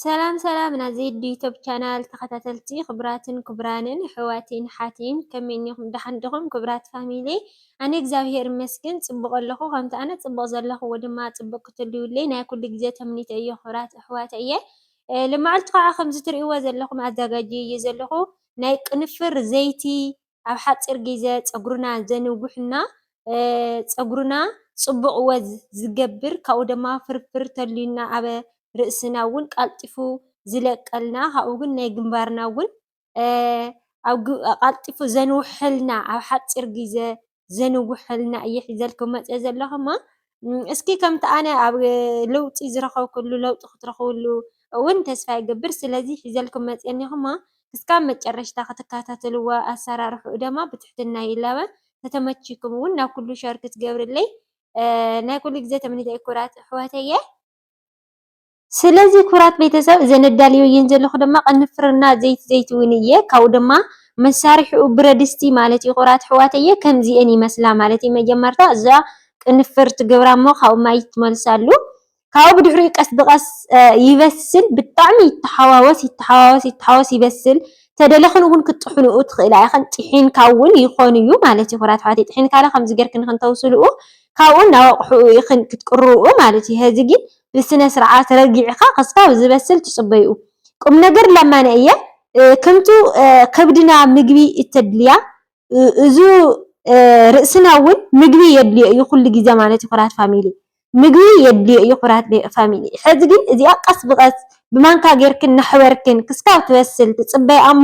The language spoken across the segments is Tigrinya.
ሰላም ሰላም ናይ ዜድ ዩቱብ ቻናል ተከታተልቲ ክቡራትን ክቡራንን ኣሕዋትን ኣሓትን ከመይ እኒኩም ዳሓን ዲኩም ክቡራት ፋሚሊ ኣነ እግዚኣብሔር ይመስገን ፅቡቅ ኣለኩ ከምቲ ኣነ ፅቡቅ ዘለክዎ ድማ ፅቡቅ ክትህልውለይ ናይ ኩሉ ግዜ ተምኒተይ እዩ ክቡራት ኣሕዋተይ እየ ሎማዓንቲ ከዓ ከምዚ ትሪእዎ ዘለኩም ኣዛጋጅየዮ ዘለኩ ናይ ቅንፍር ዘይቲ ኣብ ሓፂር ግዜ ፀጉርና ዘንውሕ እና ፀጉርና ፅቡቕ ወዝ ዝገብር ካብኡ ድማ ፍርፍር ተልዩና ኣብ ርእስና እውን ቃልጢፉ ዝለቀልና ካብኡ ግን ናይ ግንባርና እውን ቃልጢፉ ዘንውሐልና ኣብ ሓፂር ግዜ ዘንውሐልና እየ ሒዘልኩም መፅየ ዘለኹ እሞ እስኪ ከምቲ ኣነ ኣብ ለውጢ ዝረኸብኩሉ ለውጢ ክትረኽብሉ እውን ተስፋ ይገብር። ስለዚ ሒዘልኩም መፅየ እኒኹማ ክስካብ መጨረሽታ ክትከታተልዎ ኣሰራርሕኡ ደማ ብትሕትና ይላበ። ተተመቺኩም እውን ናብ ኩሉ ሸር ክትገብርለይ ናይ ኩሉ ግዜ ተመኒተይ ኩራት ኣሕዋተየ። ስለዚ ክብራት ቤተሰብ እዚ ነዳልዮ እየን ዘለኹ ድማ ቅንፍርና ዘይት ዘይት እውን እየ ካብኡ ድማ መሳርሒኡ ብረድስቲ ማለት እዩ ክብራት ሕዋተየ ከምዚኤን ይመስላ ማለት እዩ መጀመርታ እዛ ቅንፍር ትገብራ እሞ ካብኡ ማይ ትመልሳሉ ካብኡ ብድሕሪኡ ቀስ ብቀስ ይበስል ብጣዕሚ ይተሓዋወስ ይተሓዋወስ ይተሓዋወስ ይበስል ተደለኽን እውን ክትጥሕንኡ ትኽእላ ኢኽን ጢሒንካ እውን ይኾን እዩ ማለት እዩ ክብራት ሕዋተይ ጢሒንካለ ከምዚ ጌርክን ክንተውስልኡ ካብኡ ናብ ኣቑሑኡ ኢኽን ክትቅርኡ ማለት እዩ ሀዚ ግን ብስነ ስርዓት ረጊዕካ ክሳብ ዝበስል ትጽበይኡ። ቁም ነገር ለማነ እየ ክምቱ ከብድና ምግቢ እተድልያ እዙ ርእስና እውን ምግቢ የድልዮ እዩ ኩሉ ግዜ ማለት እዩ ኩራት ፋሚሊ ምግቢ የድልዮ እዩ ኩራት ፋሚሊ ሕዚ ግን እዚኣ ቀስ ብቀስ ብማንካ ጌርክን ናሕበርክን ክስካብ ትበስል ትፅበይ ኣሞ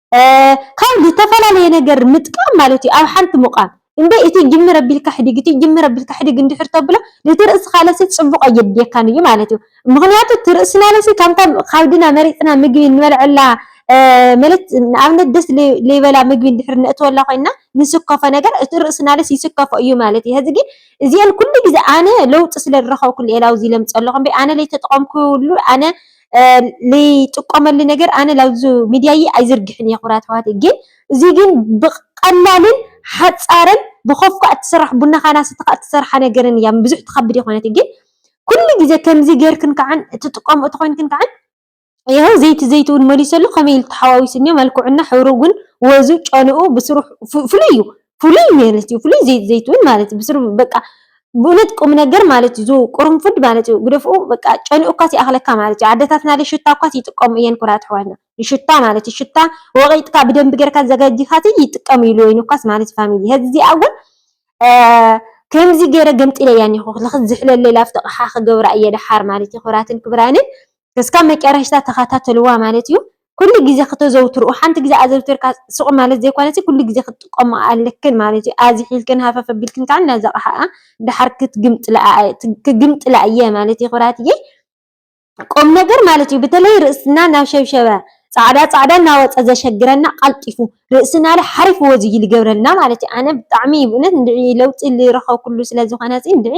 ካብ ዝተፈላለየ ነገር ምጥቃም ማለት እዩ ኣብ ሓንቲ ምቛም እንደ እቲ ጅምር ኣቢልካ ሕዲግ እቲ ጅምር ኣቢልካ ሕዲግ እንድሕር ተብሎ ነቲ ርእስኻ ለሲ ጽቡቕ ኣየድልየካን እዩ ማለት እዩ ምኽንያቱ እቲ ርእስና ለሲ ካብታ ካብድና መሪጽና ምግቢ እንበልዐላ ማለት ንኣብነት ደስ ለይበላ ምግቢ እንድሕር ነእትወላ ኮይና ንስከፎ ነገር እቲ ርእስና ለሲ ይስከፎ እዩ ማለት እዩ ሕዚ ግን እዚኤን ኩሉ ግዜ ኣነ ለውጢ ስለ ዝረኸብኩሉ ኤላውዚ ለምጸለኹ እምበይ ኣነ ለይተጠቐምኩሉ ኣነ ልይጥቀመሉ ነገር ኣነ ላብዙ ሚድያይ ኣይዝርግሕን እየ ክቡራት ኣሕዋተይ ግን እዙይ ግን ብቀላልን ሓፃርን ብኮፍካ እትስራሕ ቡና ካን ኣሰተኻ እትሰርሓ ነገርን እያ ብዙሕ ትኸብድ ኣይኮነትን ግን ኩሉ ግዜ ከምዚ ጌርክን ከዓን እትጥቀምኦ ተኾይንክን ከዓን ይኸው ዘይቲ ዘይቲ እውን መሊሰሉ ከመይ ኢሉ ተሓዋዊሱኒ መልክዑና ሕብሩ እውን ወዙ ጨንኡ ብስሩ ፍሉይ እዩ ፍሉይ ምህርት እዩ ፍሉይ ዘይት ዘይትውን ማለት እዩ ብስሩ በቃ ብእነት ቁምነገር ማለት እዩ ቁርንፉድ ማለት እዩ ግደፍኡ በቃ ጨንኡ እኳስ ይኣኽለካ ማለት እዩ ዓደታትና ሽታ እኳስ ይጥቀሙ እየን ኩራት ኣሕዋትና ንሽታ ማለት እዩ ሽታ ወቂጥካ ብደንቢ ጌርካ ዘጋጂኻት ይጥቀሙ ኢሉ ወይን እኳስ ማለት እዩ ፋሚሊ ሄዚ እዚኣ እውን ከምዚ ገይረ ገምጢለያ እኒኹ ልኽዝሕለለይ ላፍቲ ቕሓ ክገብራ እየ ደሓር ማለት እዩ ክብራትን ክብራንን ክስካብ መጫረሽታ ተካታተልዋ ማለት እዩ ኩሉ ግዜ ክተዘውትርኡ ሓንቲ ግዜ ኣዘውቲርካ ሱቅ ማለት ዘይኮነሲ ኩሉ ግዜ ክትጥቀምኦ ኣለክን ማለት እዩ ኣዚሒልክን ሃፈፍ ኣቢልክን ካኣ ነዛ ኣቅሓኣ ዳሓር ክግምጥላ እየ ማለት እዩ ክብራትየይ ቁምነገር ማለት እዩ ብተለይ ርእስና ናብ ሸብሸበ ጻዕዳ ጻዕዳ እናወጸ ዘሸግረና ቀልጢፉ ርእስናለ ሓሪፍ ወዝ እዩ ልገብረልና ማለት እዩ ኣነ ብጣዕሚ ብእውነት እንድዒ ለውጢ ልረከብኩሉ ስለዝኮነሲ እንድዒ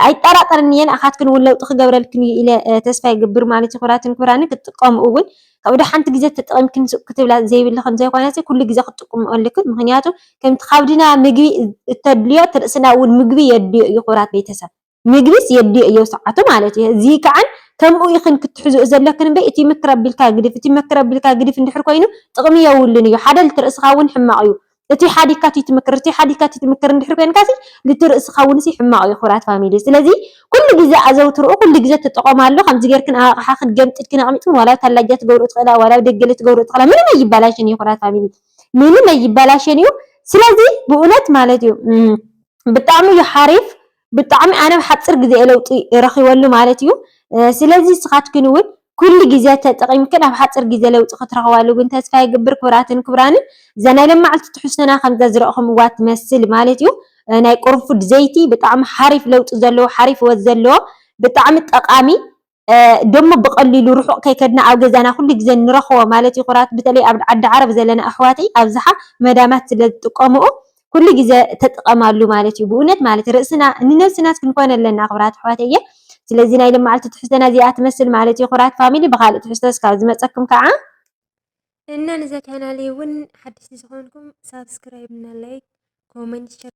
ኣይጠራጠርን እየ ንኣኻትክን እውን ለውጢ ክገብረልክን እዩ ኢለ ተስፋ ይገብር ማለት እዩ ክብራትን ክብራንን ክትጥቀሙ እውን ካብ ዶ ሓንቲ ግዜ ተጠቒምክን ሱቅ ክትብላ ዘይብልኽን ዘይኮነሲ ኩሉ ግዜ ክትጥቅሙ ኣለክን ምክንያቱ ከምቲ ካብድና ምግቢ እተድልዮ ትርእስና እውን ምግቢ የድልዮ እዩ ክብራት ቤተሰብ ምግቢስ የድልዮ እዮ ሰዓቱ ማለት እዩ እዚ ከዓን ከምኡ ኢኽን ክትሕዝኡ ዘለክን እምበይ እቲ ምክር ኣቢልካ ግድፍ እቲ ምክር ኣቢልካ ግድፍ እንድሕር ኮይኑ ጥቕሚ የውሉን እዩ ሓደ ልትርእስኻ እውን ሕማቕ እዩ እቲ ሓዲግካ እቲ ትምክር እቲ ሓዲግካ እቲ ትምክር እንድሕር ኮይንካ ሲ ልቲ ርእስኻ ውን ሲ ሕማቕ ዩ ክብራት ፋሚሊ ስለዚ ኩሉ ግዘ ኣዘውትርኡ ኩሉ ግዘ ተጠቐማሉ ከምዚ ጌርክን ኣብ ኣቕሓኽን ገምጢልክን ኣቕሚጥክን ዋላ ኣብ ታላጃ ትገብርኡ ትኽእላ ዋላ ኣብ ደገ ልትገብርኡ ትኽእላ ምንም ኣይባላሽን ዩ ክብራት ፋሚሊ ምንም ኣይባላሽን ዩ ስለዚ ብኡነት ማለት ዩ ብጣዕሚ ዩ ሓሪፍ ብጣዕሚ ኣነ ኣብ ሓፂር ግዜ እየ ለውጢ ረኪበሉ ማለት እዩ። ስለዚ ንስካትክን እውን ኩሉ ግዜ ተጠቂምክን ኣብ ሓፂር ግዜ ለውጢ ክትረክባሉ ግን ተስፋ ይገብር ክብራትን ክብራንን እዛ ናይ ለማዓልቲ ትሕዝቶና ከምዛ ዝረእኩምዋ ትመስል ማለት እዩ። ናይ ቁርንፉድ ዘይቲ ብጣዕሚ ሓሪፍ ለውጢ ዘለዎ ሓሪፍ ወዝ ዘለዎ ብጣዕሚ ጠቃሚ ደሞ ብቀሊሉ ርሑቅ ከይከድና ኣብ ገዛና ኩሉ ግዜ ንረክቦ ማለት ይኩራት ብተለይ ኣብ ዓዲ ዓረብ ዘለና ኣሕዋተይ ኣብዝሓ መዳማት ስለ ዝጥቀምኦ ኩሉ ግዜ ተጥቐማሉ ማለት እዩ ብኡነት ማለት ርእስና ንነብስናስ ክንኮን ኣለና ክብራት ኣሕዋተየ ስለዚ ናይ ልማዓልቲ ትሕዝቶና እዚኣ ትመስል ማለት እዩ ኩራት ፋሚሊ ብካልእ ትሕዝቶ ስካብ ዝመጸኩም ከዓ እና ንዛ ቻናለይ እውን ሓደሽቲ ዝኾንኩም ሳብስክራይብ እና ላይክ ኮመንት